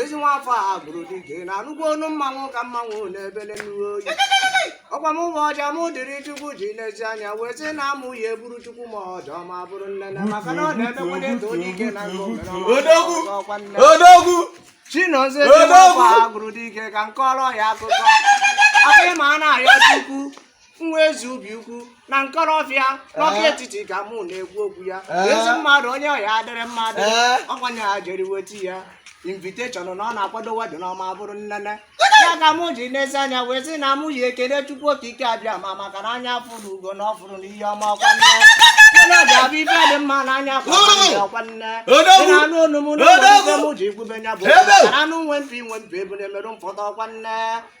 ezi nwa afọ a bụrụ dike na-anụkwa ọnụ mmanwụ ka mmanwụ na-ebele nnuwe oyi ọ kwa mụwa ọja m dịrị chukwu ji n'ezi anya wee sị na mụ ya-eburu chukwu ma ọjọ ma bụrụ nne na maka na ọ na-emekwanye e too onye ike na nke o mere Odogwu! ọkwa nne odogwu chinozie Odogwu! chinoba bụrụ dike ka m kọrọ ya akụkọ afọ ịma a na-arịọ chukwu nwa ezi ubi ukwu na nkọlọfịa n'ọka Eh. etiti ka mụ na-ekwu okwu ya Eh. ezi mmadụ onye ọ ya-adịrị mmadụ Eh. ọ kwa nya jere weti ya inviteshọn na ọ na-akwado wedịn ma bụrụ nne nne ya ka mụ ji n'ezi anya wee sị na mụ ya-ekele chukwu okike abịama maka na anya fụrụ ugo na ọ fụrụ na ihe ọma ọkwa nne nne ọ ga-abụ ife dị mma na anya kwa nne ọkwa nne Odogwu! Ị na-anụ olu m na ụmụ Odogwu! ife mụ ji ekwube ya bụ Ebe! ka na anụ nwe mpi nwe mpi ebule merụ mfọdụ ọkwa nne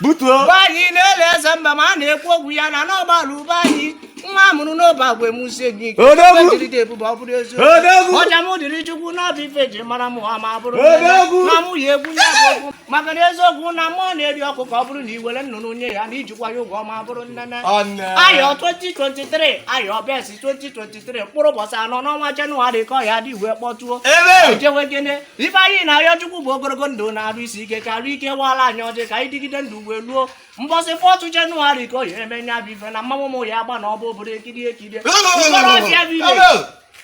butuo be anyị na-ele eze mba ma a na-ekwu okwu ya na n'ọgbalụ be anyị nwa a mụrụ n'obeagwe muzie gị ike Odogwu! Ife dịrị dị ebube ọ bụrụ eziokwu Odogwu! ọja m dịrị chukwu na ọ bụ ife e ji mara mụ ha ma bụrụ Odogwu! na mụ ya egwu ya bụ okwu maka na eziokwu na mmụọ na-eri ọkụ ka ọ bụrụ na i were nnụnụ nye ya na i jikwa ya ụgwọ ma bụrụ nne nne Ọnne. arọ 2023 arọ besi 2023 mkpụrụ ụbọchị anọ n'ọnwa jenụwarị ka ọ ya-eji wee kpọtuo Ebe! ejewe gịnị ife anyị na-arịọ chukwu bụ ogologo ndụ na arụ isi ike karịa ike wala anyị ọjị ka anyị dịgide ndụ wee luo mbọsị fọtụ jenụwarị ka ọ ya-eme nya bụ ife na mmanwụ mụ ya-agba na ọ bụ obodo ekiri ekiri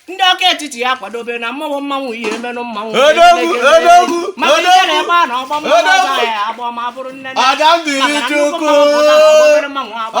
ndị ọka etiti ya kwadobe na mmanwụ mmanwụ ihe emenụ mmanwụ maka ihe na-ebe a na ọgba mmanwụ ya agba ma bụrụ nne nne maka nnukwu mmanwụ pụtara obere mmanwụ agba